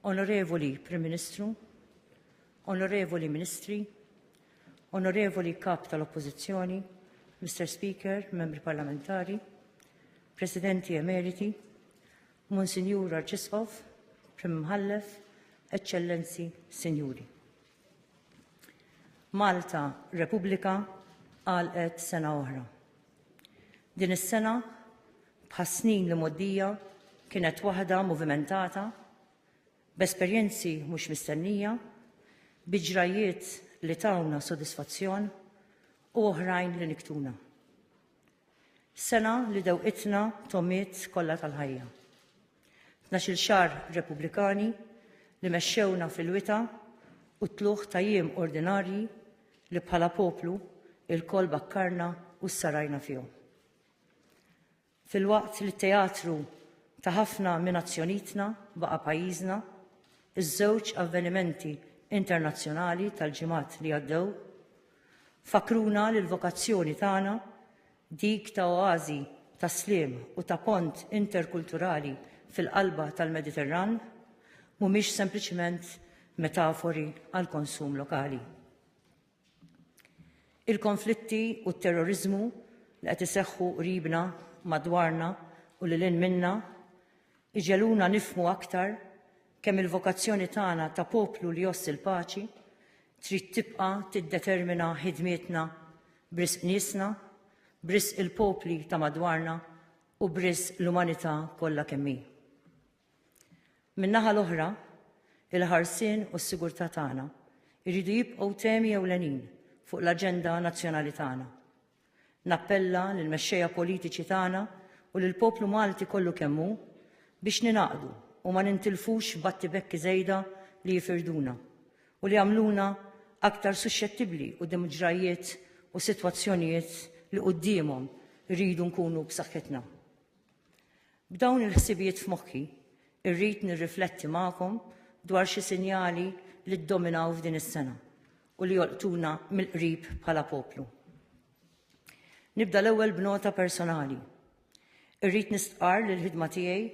Onorevoli Prim Ministru, Onorevoli Ministri, Onorevoli Kap tal-Oppożizzjoni, Mr. Speaker, Membri Parlamentari, Presidenti Emeriti, Monsignor Arċisqof, Prim Mħallef, Eċċellenzi, Sinjuri. Malta Repubblika għalqet sena oħra. Din is-sena bħas-snin li mgħoddija kienet waħda muvimentata, b'esperjenzi mhux mistennija, bi ġrajjiet li tawna sodisfazzjon u oħrajn li niktuna. Sena li dewqitna tomiet kollha tal-ħajja. Tnax-il xahar Repubblikani li mexxewna fil-wita u t-tlugħ ta' jiem ordinarji li bħala poplu ilkoll bakkarna u ssarajna fihom. Filwaqt li t-teatru ta' ħafna minn azzjonitna baqa' pajjiżna, iż-żewġ avvenimenti internazzjonali tal-ġimgħat li għaddew fakkruna li l-vokazzjoni tagħna, dik ta' oażi ta' sliem u ta' pont interkulturali fil-qalba tal-Mediterran, mhumiex sempliċement metafori għall-konsum lokali. Il-konflitti u t-terroriżmu li qed iseħħu qribna, madwarna u lil hinn minna jġegħluna nifhmu aktar kemm il-vokazzjoni tagħna ta' poplu li jgħożż il-paċi trid tibqa' tiddetermina ħidmietna b'risq niesna, b'risq il-popli ta' madwarna u b'risq l-umanità kollha kemm hi. Min-naħa l-oħra, il-ħarsien u s-sigurtà tagħna jridu jibqgħu temi ewlenin fuq l-aġenda nazzjonali tagħna. Nappella lill-mexxejja politiċi tagħna u lill-poplu Malti kollu kemm hu biex ningħaqdu u ma nintilfux f'battibekki żejda li jifirduna u li jagħmluna aktar suxxettibbli quddiem ġrajjiet u sitwazzjonijiet li quddiemhom irridu nkunu b'saħħitna. B'dawn il-ħsibijiet f'moħħi, irrid nirrifletti magħkom dwar xi sinjali li ddominaw f'din is-sena u li jolqtuna mill-qrib bħala poplu. Nibda l-ewwel b'nota personali. Irrid nistqar li l-ħidma tiegħi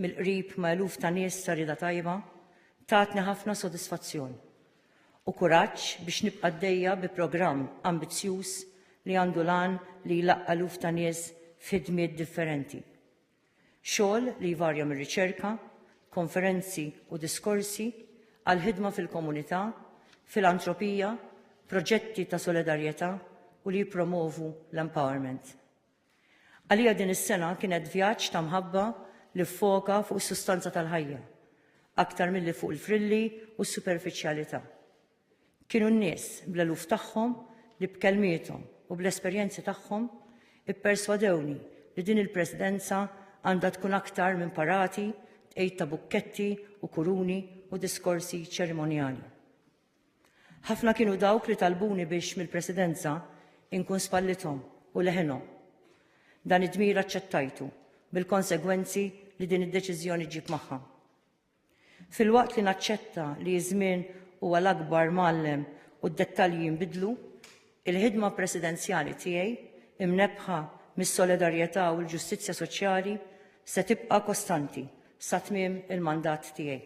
mill-qrib ma' eluf ta' nies ta' rida tajba tatni ħafna sodisfazzjon u kuraġġ biex nibqa' għaddejja bi programm ambizzjuż li għandu l-għan li jlaqqa' eluf ta' nies f'ħidmiet differenti. Xogħol li jvarja mir-riċerka, konferenzi u diskorsi, għall-ħidma fil-komunità, filantropija, proġetti ta' solidarjetà u li jippromovu l-empowerment. Għalija din is-sena kienet vjaġġ ta' mħabba li ffoka fuq is-sustanza tal-ħajja, aktar milli fuq il-frilli u s-superfiċjalità. Kienu n-nies, bl-eluf tagħhom, li b'kelmiethom u bl-esperjenzi tagħhom ipperswadewni li din il-Presidenza għandha tkun aktar minn parati tqegħid ta' bukketti u kuruni u diskorsi ċerimonjali. Ħafna kienu dawk li talbuni biex mill-Presidenza inkun spallithom u leħinhom. Dan id-dmir aċċettajtu bil-konsegwenzi li din id-deċiżjoni ġġib magħha. Filwaqt li naċċetta li ż-żmien huwa l-akbar mgħallem u d-dettalji jinbidlu, il-ħidma Presidenzjali tiegħi, imnebbħa mis-solidarjetà u l-ġustizzja soċjali, se tibqa' kostanti sa tmiem il-mandat tiegħi.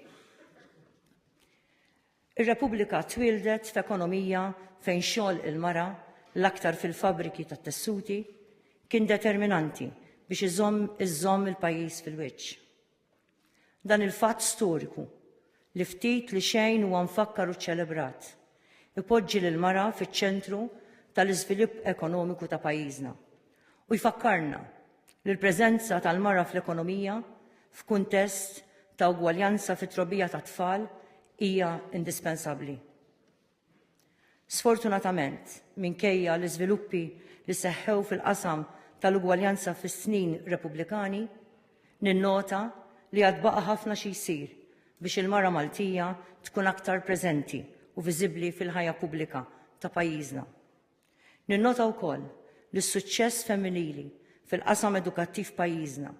Ir-Repubblika twieldet f'ekonomija fejn xogħol il-mara, l-aktar fil-fabbriki tat-tessuti, kien determinanti biex iżomm iżżomm il-pajjiż fil-wiċċ. Dan il-fatt storiku, li ftit li xejn huwa mfakkar u ċċelebrat, ipoġġi lill-mara fiċ-ċentru tal-iżvilipp ekonomiku ta' pajjiżna. u jfakkarna li l-preżenza tal-mara fl-ekonomija f'kuntest ta' ugwaljanza fit-trobbija tat-tfal hija indispensabbli. Sfortunatament, minkejja l-iżviluppi li seħħew fil-qasam tal-ugwaljanza fis-snin Repubblikani, ninnota li għad baqa' ħafna xi jsir biex il-mara Maltija tkun aktar preżenti u viżibbli fil-ħajja pubblika ta' pajjiżna. Ninnota wkoll li s-suċċess femminili fil-qasam edukattiv f'pajjiżna,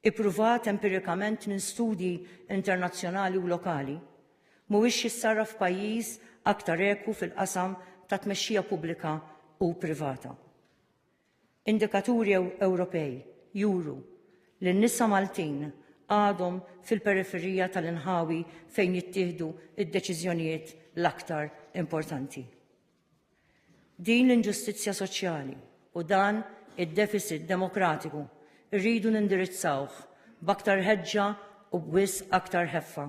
ippruvat empirikament minn studji internazzjonali u lokali, mhuwiex jissarraf f'pajjiż aktar ekwu fil-qasam tat-tmexxija pubblika u privata. Indikaturi Ewropej juru li n-nisa Maltin għadhom fil-periferija tal-inħawi fejn jittieħdu d-deċiżjonijiet l-aktar importanti. Din l-inġustizzja soċjali u dan id-defiċit demokratiku rridu nindirizzawh b'aktar ħeġġa u b'wisq aktar ħeffa.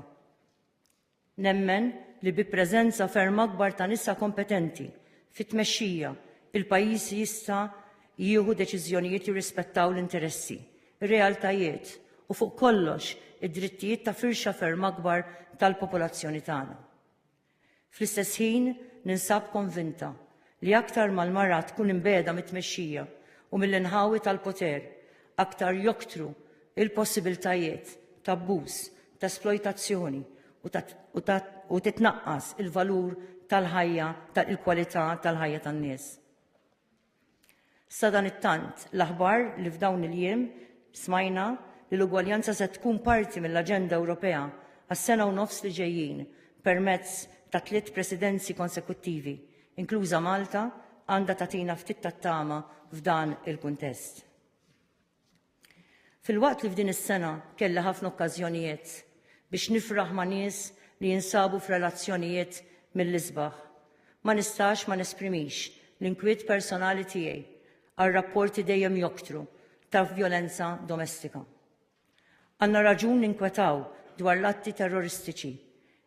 Nemmen li bi preżenza ferm akbar ta' nisa kompetenti fit-tmexxija, il-pajjiż jista' jieħu deċiżjonijiet jirrispettaw l-interessi, ir-realtajiet u fuq kollox id-drittijiet ta' firxa ferm akbar tal-popolazzjoni tagħna. Fl-istess ħin, ninsab konvinta li aktar ma l-mara tkun imbegħda mit-tmexxija u mill-inħawi tal-poter, aktar joktru l-possibiltajiet t'abbuż, t'esplojtazzjoni u titnaqqas il-valur tal-ħajja, il-kwalità tal-ħajja tan-nies. Sadanittant, l-aħbar li f'dawn il-jiem smajna li l-ugwaljanza se tkun parti mill-aġenda Ewropea għas-sena u nofs li ġejjin permezz ta' tliet presidenzi konsekuttivi, inkluża Malta, għandha tagħtina ftit tat-tama f'dan il-kuntest. Filwaqt li f'din is-sena kelli ħafna okkażjonijiet biex nifraħ ma' nies li jinsabu f'relazzjonijiet mill-isbaħ, ma nistax ma nesprimix l-inkwiet personali tiegħi għar-rapporti dejjem joktru ta' vjolenza domestika. Għandna raġun ninkwetaw dwar l-atti terroristiċi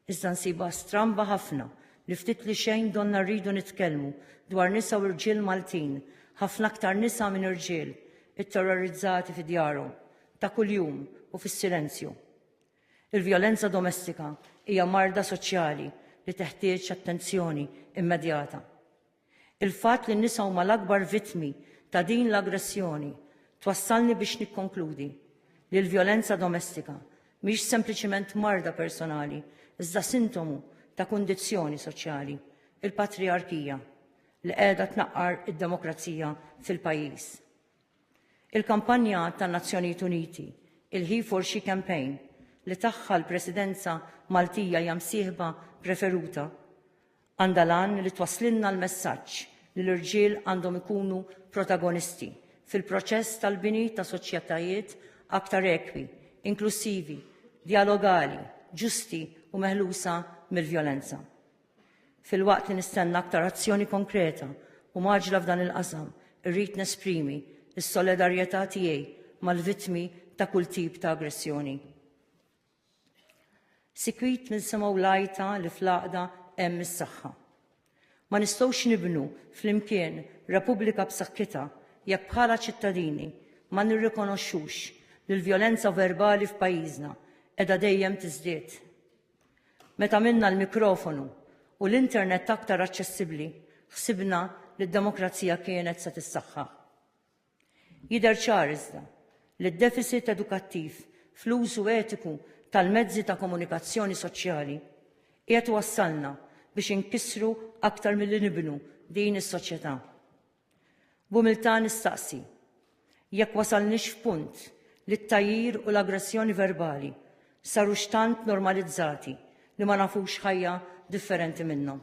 Iżda nsibha stramba ħafna li ftit li xejn donnha rridu nitkellmu dwar nisa u rġiel Maltin, ħafna aktar nisa minn irġiel, itterrorizzati fi djarhom, ta' kuljum u fis-silenzju. Il-vjolenza domestika hija marda soċjali li teħtieġ attenzjoni immedjata. Il-fatt li n-nisa huma l-akbar vittmi ta' din l-aggressjoni twassalni biex nikkonkludi li l-vjolenza domestika mhix sempliċiment marda personali iżda sintomu ta' kundizzjoni soċjali, il-patrijarkija, li qiegħda tnaqqar id-demokrazija fil-pajjiż. Il-kampanja tan-Nazzjonijiet Uniti, il-He for She Campaign, li tagħha l-Presidenza Maltija hija msieħba preferuta, Għandha l-għan li twasslilna l-messaġġ li l-irġiel għandhom ikunu protagonisti fil-proċess tal-bini ta' soċjetajiet aktar ekwi, inklussivi, djalogali, ġusti u meħlusa mill-vjolenza. Filwaqt li nistenna aktar azzjoni konkreta u mgħaġġla f'dan il-qasam, irrid nesprimi s-solidarjetà tiegħi mal-vittmi ta' kull tip ta' aggressjoni. Sikwit ninsimgħu l-għajta li fl-għaqda hemm is-saħħa. Ma nistgħux nibnu flimkien Repubblika b'saħħitha jekk bħala ċittadini ma nirrikonoxxux li l-vjolenza verbali f'pajjiżna qiegħda dejjem tiżdied. Meta għamilna l-mikrofonu u l-internet aktar aċċessibbli, ħsibna li d-demokrazija kienet se tissaħħaħ. Jidher ċar iżda li d-defisit edukattiv fl-użu etiku tal-mezzi ta' komunikazzjoni soċjali qiegħed iwassalna biex inkissru aktar milli nibnu din is-soċjetà. B'umiltà nistaqsi jekk wasalniex f'punt li t-tgħajjir u l-aggressjoni verbali sarux tant normalizzati li ma nafux ħajja differenti minnhom.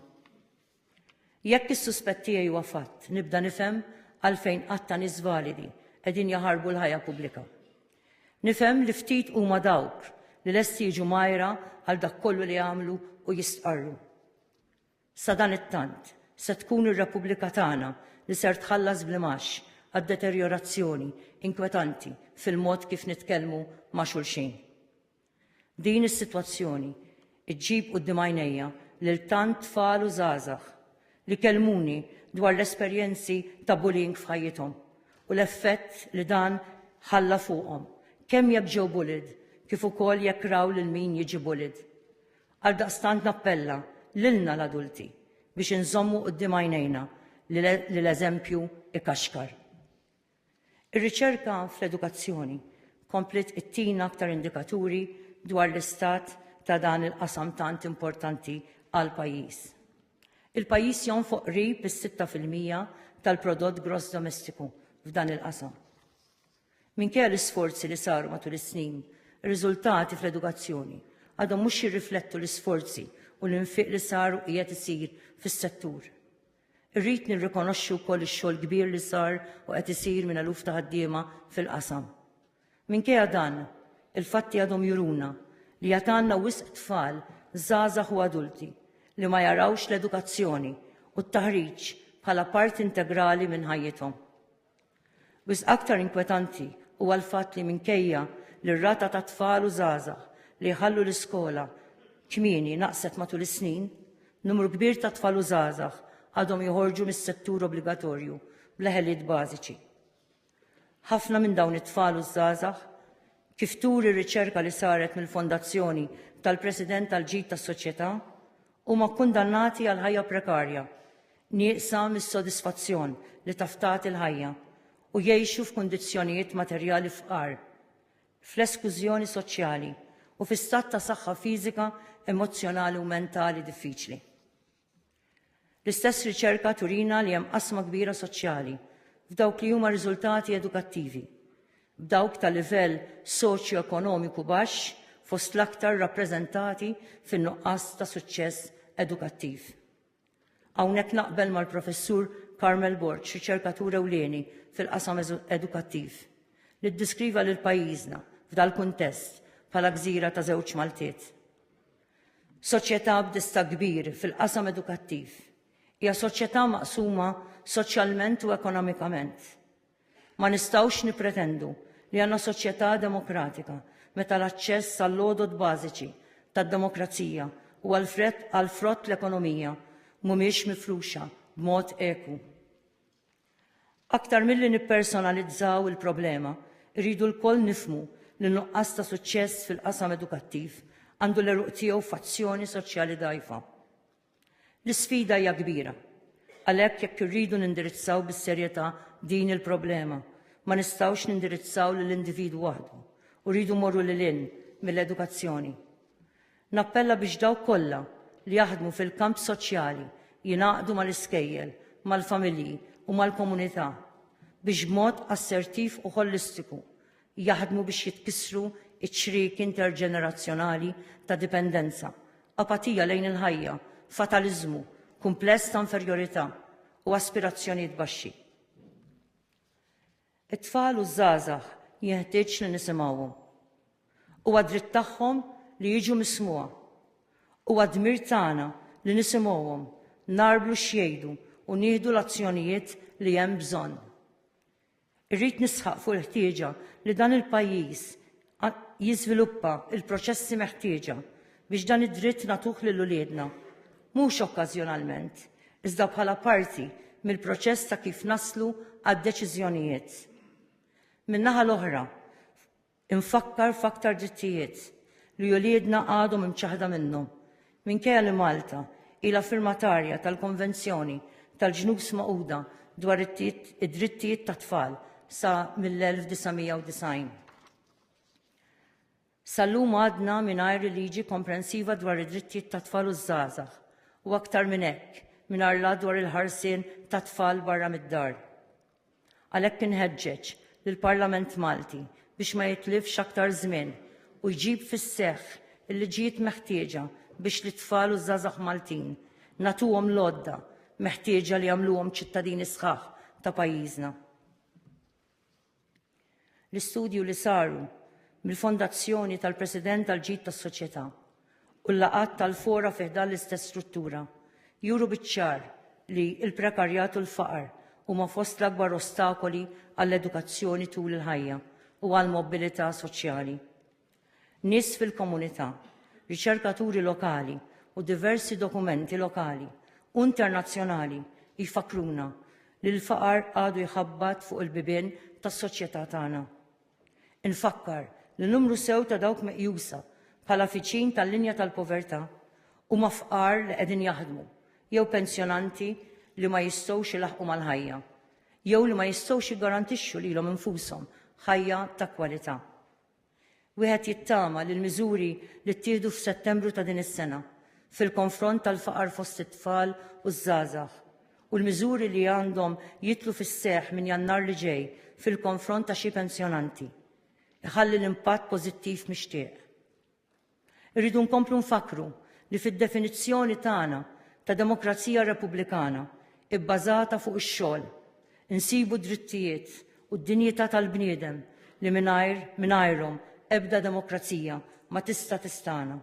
Jekk is-suspett tiegħi huwa fatt, nibda nifhem għalfejn għadd ta' nies validi qegħdin jaħarbu l-ħajja pubblika. Nifhem li ftit huma dawk li lesti jiġu mgħajra għal dak kollu li għamlu u jistqarru. Sadanittant, se tkun ir-Repubblika tagħna li ser tħallas bl-imgħax għad-deterjorazzjoni inkwetanti fil-mod kif nitkellmu ma' xulxin. Din is-sitwazzjoni ġġib quddiem għajnejja lil tant tfal u żgħażagħ li kellmuni dwar l-esperjenzi ta' bullying f'ħajjithom u l-effett li dan ħalla fuqhom kemm jekk ġew bullied kif ukoll jekk raw lil min jiġi bullied. Għaldaqstant nappella lilna l-adulti biex inżommu quddiem għajnejna li l-eżempju ikaxkar. Ir-riċerka fl-edukazzjoni kompliet ittina aktar indikaturi dwar l-istat ta' dan il-qasam tant importanti għall-pajjiż. Il-pajjiż jonfoq qrib is-sitta fil-mija tal-prodott gross domestiku f'dan il-qasam. Minkejja l-isforzi li saru matul is-snin, ir-riżultati fl-edukazzjoni għadhom mhux jirriflettu l-isforzi u l-infiq li sar u qiegħed isir fis-settur. Irrid nirrikonoxxi wkoll ix-xogħol kbir li sar u qed isir minn eluf ta' ħaddiema fil-qasam. Minkejja dan, il-fatti għadhom juruna li għad għandna wisq tfal, żgħażagħ u adulti li ma jarawx l-edukazzjoni u t-taħriġ bħala parti integrali minn ħajjithom. Wisq aktar inkwetanti huwa l-fatt li minkejja li r-rata ta' tfal u żgħażagħ li jħallu l-iskola kmieni naqset matul is-snin, numru kbir ta' tfal u żgħażagħ għadhom joħorġu mis-settur obbligatorju bla ħiliet bażiċi. Ħafna minn dawn it-tfal u ż-żgħażagħ, kif turi r-riċerka li saret mill-Fondazzjoni tal-President għall-Ġid tas-Soċjetà, Huma kkundannati għal ħajja prekarja, nieqsa mis-sodisfazzjon li taf tagħti l-ħajja, u jgħixu f'kundizzjonijiet materjali fqar, fl-eskużjoni soċjali, u fi stat ta' saħħa fiżika, emozzjonali u mentali diffiċli. L-istess riċerka turina li hemm qasma kbira soċjali f'dawk li huma riżultati edukattivi, b'dawk ta' livell soċjoekonomiku baxx fost l-aktar rappreżentati fin-nuqqas ta' suċċess edukattiv. Hawnhekk naqbel mal-Professur Carmel Borg, riċerkatur ewlieni fil-qasam edukattiv, li ddeskriva lil pajjiżna, f'dal-kuntest, bħala gżira ta' żewġ Maltiet. Soċjetà b'distakk kbir fil-qasam edukattiv hija soċjetà maqsuma soċjalment u ekonomikament. Ma nistgħux nippretendu li għandna soċjetà demokratika meta l-aċċess għall-għodod bażiċi tad-demokrazija u għall-frott l-ekonomija mhumiex mifruxa b'mod ekwu. Aktar milli nippersonalizzaw il-problema, irridu lkoll nifhmu li n-nuqqas ta' suċċess fil-qasam edukattiv għandu l-għeruq tiegħu f'azzjoni soċjali dgħajfa. L-isfida hija kbira. Għalhekk jekk irridu nindirizzaw bis-serjetà din il-problema, ma nistgħux nindirizzaw lill-individwu waħdu u rridu morru lil hinn mill-edukazzjoni. Nappella biex dawk kollha li jaħdmu fil-kamp soċjali jingħaqdu mal-iskejjel, mal-familji u mal-komunità biex b'mod assertiv u ħolistiku jaħdmu biex jitkissru ċ-ċrieki interġenerazzjonali ta' dipendenza, apatija lejn il-ħajja, fataliżmu, kumpless ta' inferjorità, u aspirazzjonijiet baxxi. It-tfal u ż-żgħażagħ jenħtieġ li nisimgħuhom. Huwa dritt tagħhom li jiġu mismugħa. Huwa dmir tagħna li nisimgħuhom, nagħrblu x'jgħidu u nieħdu l-azzjonijiet li hemm bżonn. Irrid nisħaq fuq il-ħtieġa li dan il-pajjiż jiżviluppa l-proċessi meħtieġa biex dan id-dritt nagħtuh lil uliedna, mhux okkażjonalment, iżda bħala parti mill-proċess ta' kif naslu għad-deċiżjonijiet. Min-naħa l-oħra, Infakkar f'aktar drittijiet li uliedna għadhom imċaħħda minnhom, minkejja li Malta ilha firmatarja tal-Konvenzjoni tal-Ġnus Magħquda dwar id-Drittijiet tat-Tfal sa mill-1990. Sal-lum għadna mingħajr liġi komprensiva dwar id-drittijiet tat-tfal u ż-żgħażagħ u aktar minn hekk mingħajr la dwar il-ħarsien tat-tfal barra mid-dar. Għalhekk inħeġġeġ lill-Parlament Malti biex ma jitlifx aktar żmien u jġib fis-seħħ il-liġijiet meħtieġa biex lit-tfal u ż-żgħażagħ Maltin nagħtuhom l-għodda meħtieġa li jagħmluhom ċittadini sħaħ ta' pajjiżna. L-istudju li saru mill-Fondazzjoni tal-President għall-Ġid tas-Soċjetà u l-laqgħat tal-fora fi ħdan l-istess struttura juru biċ-ċar li l-prekarjat u l-faqar huma fost l-akbar ostakoli għall-edukazzjoni tul il-ħajja u għall-mobbilità soċjali. Nies fil-komunità, riċerkaturi lokali u diversi dokumenti lokali u internazzjonali jfakkruna li l-faqar għadu jħabbat fuq il-bibien tas-soċjetà tagħna. Infakkar li numru sew ta' dawk meqjusa bħala viċin tal-linja tal-povertà huma fqar li qegħdin jaħdmu jew pensjonanti li ma jistgħux ilaħħqu mal-ħajja jew li ma jistgħux jiggarantixxu lilhom infushom ħajja ta' kwalità. Wieħed jittama li l-miżuri li ttieħdu f'Settembru ta' din is-sena fil-konfront tal-faqar fost it-tfal u ż-żgħażagħ u l-miżuri li għandhom jidħlu fis-seħħ minn Jannar li ġej fil-konfront ta' xi pensjonanti, iħalli l-impatt pożittiv mixtieq. Irridu nkomplu nfakkru li fid-definizzjoni tagħna ta' demokrazija repubblikana bbażata fuq ix-xogħol, insibu d-drittijiet u d-dinjità tal-bniedem li mingħajr mingħajrhom ebda demokrazija ma tista' tistagħna.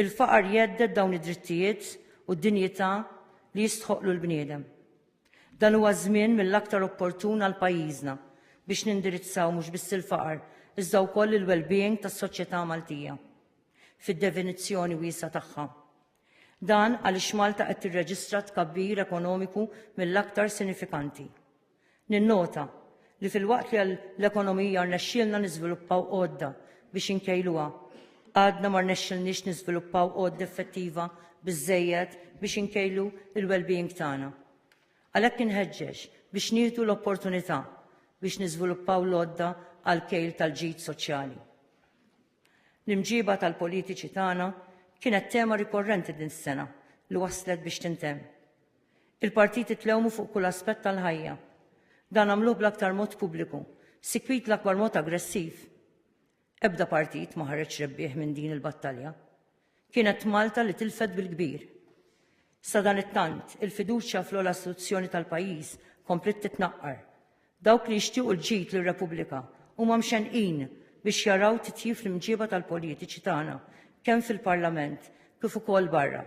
Il-faqar jhedded dawn id-drittijiet u d-dinjità li jistħoqqlu l-bniedem. Dan huwa żmien mill-aktar opportun għal pajjiżna biex nindirizzaw mhux biss il-faqar, iżda wkoll il-wellbeing tas-soċjetà Maltija fid-definizzjoni wiesgħa tagħha. Dan għaliex Malta qed tirreġistra tkabbir ekonomiku mill-aktar sinifikanti. Ninnota li filwaqt li għall-ekonomija rnexxielna niżviluppaw għodda biex inkejluha, għadna ma rnexxilniex niżviluppaw għodda effettiva biżżejjed biex inkejlu l-wellbeing tagħna. Għalhekk inħeġġeġ biex nieħdu l-opportunità biex niżviluppaw l-għodda għall-kejl tal-ġid soċjali. L-imġiba tal-politiċi tagħna kienet tema rikorrenti din is-sena li waslet biex tintemm. Il-partit itlewmu fuq kull aspett tal-ħajja. Dan għamluh bl-aktar mod pubbliku, sikwit l-akbar mod aggressiv. Ebda partit ma ħareġ rebbieħ minn din il-battalja. Kienet Malta li tilfet bil-kbir. Sadanittant, il-fiduċja fl-ogħla istituzzjoni tal-pajjiż kompliet titnaqqar. Dawk li jixtiequ l-ġid lir-Repubblika huma mxennqin biex jaraw titjib fl-imġieba tal-politiċi tagħna kemm fil-Parlament kif ukoll barra.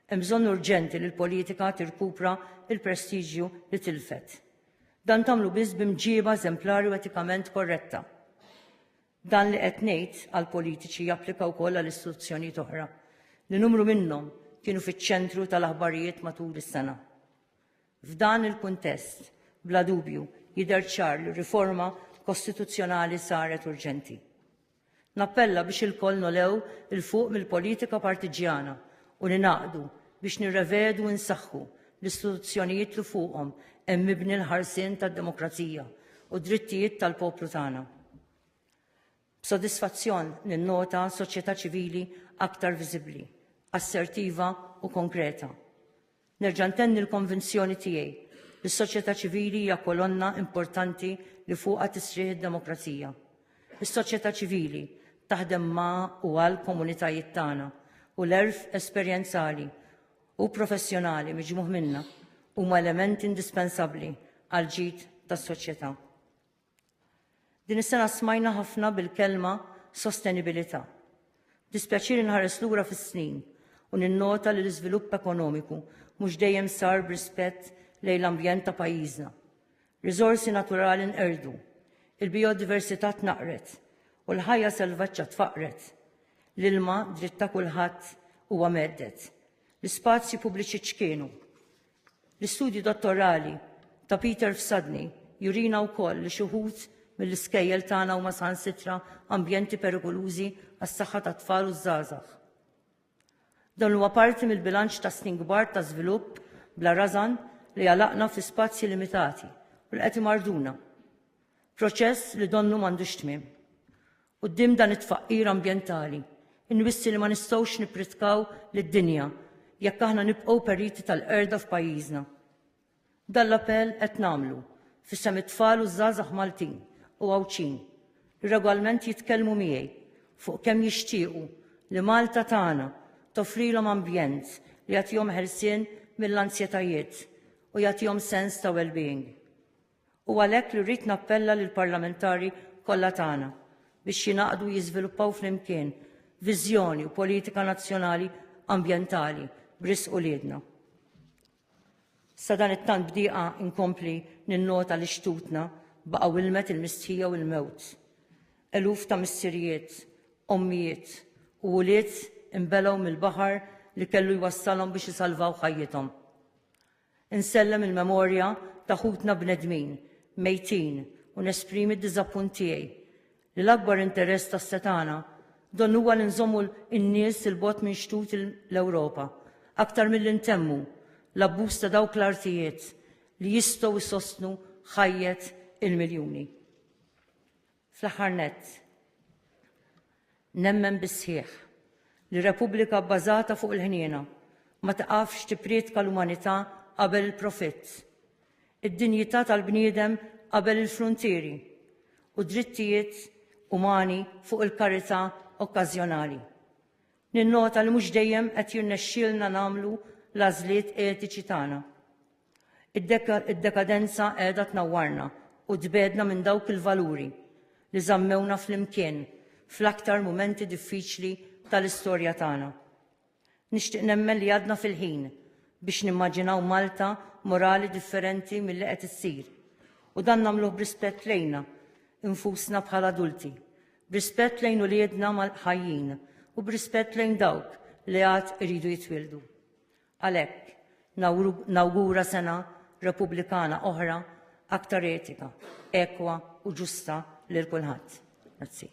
Hemm bżonn urġenti li l-politika tirkupra l-prestiġju li tilfet. Dan tagħmlu biss bi mġieba eżemplari u etikament korretta. Dan li qed ngħid għall-politiċi japplika wkoll għal istituzzjonijiet oħra li numru minnhom kienu fiċ-ċentru tal-aħbarijiet matul is-sena. F'dan il-kuntest, bla dubju, jidher ċar li riforma kostituzzjonali saret urġenti. Nappella biex ilkoll nogħlew 'il fuq mill-politika partiġġjana u ningħaqdu biex nirrevedu u nsaħħu l-istituzzjonijiet li fuqhom hemm mibni l-ħarsien tad-demokrazija u d-drittijiet tal-poplu tagħna. B'sodisfazzjon ninnota soċjetà ċivili aktar viżibbli, assertiva u konkreta. Nerġa' ntenni l-konvinzjoni tiegħi li s-soċjetà ċivili hija kolonna importanti li fuqha tisrieħ id-demokrazija. Is-soċjetà ċivili taħdem ma' u għal komunitajiet tagħna u l-għerf esperjenzali u professjonali miġmugħ minnha huma element indispensabbli għall-ġid tas-soċjetà. Din is-sena smajna ħafna bil-kelma sostenibilità. B'dispjaċir inħares lura fis-snin u ninnota li l-iżvilupp ekonomiku mhux dejjem sar b'rispett lejn l-ambjent ta' pajjiżna. Riżorsi naturali nqerdu, il-bijodiversità tnaqqret u l-ħajja selvaġġa tfaqqret. L-ilma, dritt ta' kulħadd, huwa mhedded. L-ispazji pubbliċi ċkienu. L-istudju dottorali ta' Peter Fsadni jurina wkoll li xi wħud mill-iskejjel tagħna huma saħansitra ambjenti perikolużi għas-saħħa tat-tfal u ż-żgħażagħ. Dan huwa parti mill-bilanċ ta' snin kbar ta' żvilupp bla rażan li għalaqna fi spazji limitati u li qed imarduna. Proċess li donnu m'għandux tmiem. Quddiem dan it-tfaqqir ambjentali, inwissi li ma nistgħux nippritkaw lid-dinja jekk aħna nibqgħu periti tal-qerda f'pajjiżna. Dan l-appell qed nagħmlu f'isem it-tfal u ż-żgħażagħ Maltin u Għawdxin li regwalment jitkellmu miegħi fuq kemm jixtiequ li Malta tagħna toffrilhom ambjent li jagħtihom ħelsien mill-anzjetajiet u jagħtihom sens ta' well-being. Hu għalhekk li rrid nappella lill-parlamentari kollha tagħna biex jingħaqdu jiżviluppaw flimkien viżjoni u politika nazzjonali ambjentali b'risq uliedna. Sadan it-tant bdieqa inkompli ninnota li xtutna baqgħu ilmet il-mistħija u l-mewt. Eluf ta' missirijiet, ommijiet u ulied imbelgħu mill-baħar li kellu jwassalhom biex isalvaw ħajjithom. Insellem il-memorja ta' ħutna bnedmin mejtin u nesprimi d-diżappunt tiegħi li l-akbar interess tas-setgħana donnu huwa li nżommu n-nies 'il bogħod minn xtut l-Ewropa aktar milli ntemmu l-abbuż ta' dawk l-artijiet li jistgħu jsostnu ħajjet il-miljuni. Fl-aħħar nett, nemmen bis-sħiħ li Repubblika bbażata fuq il-ħniena ma tiqafx tipprietka l-umanità qabel il-profitt, id-dinjità tal-bniedem qabel il-fruntieri, u drittijiet umani fuq il-karità okkażjonali. Ninnota li mhux dejjem qed jirnexxielna nagħmlu l-għażliet etiċi tagħna. Id-dekadenza qiegħda tnawwarna u tbegħedna minn dawk il-valuri li żammewna flimkien fl-aktar mumenti diffiċli tal-istorja tagħna. Nixtieq nemmen li għadna fil-ħin biex nimmaġinaw Malta morali differenti milli qed issir u dan nagħmluh b'rispett lejna infusna bħala adulti, b'rispett lejn uliedna ħajjin u b'rispett lejn dawk li għad iridu jitwieldu. Għalhekk, nawgura sena Repubblikana oħra aktar etika, ekwa u ġusta lil kulħadd. Grazzi.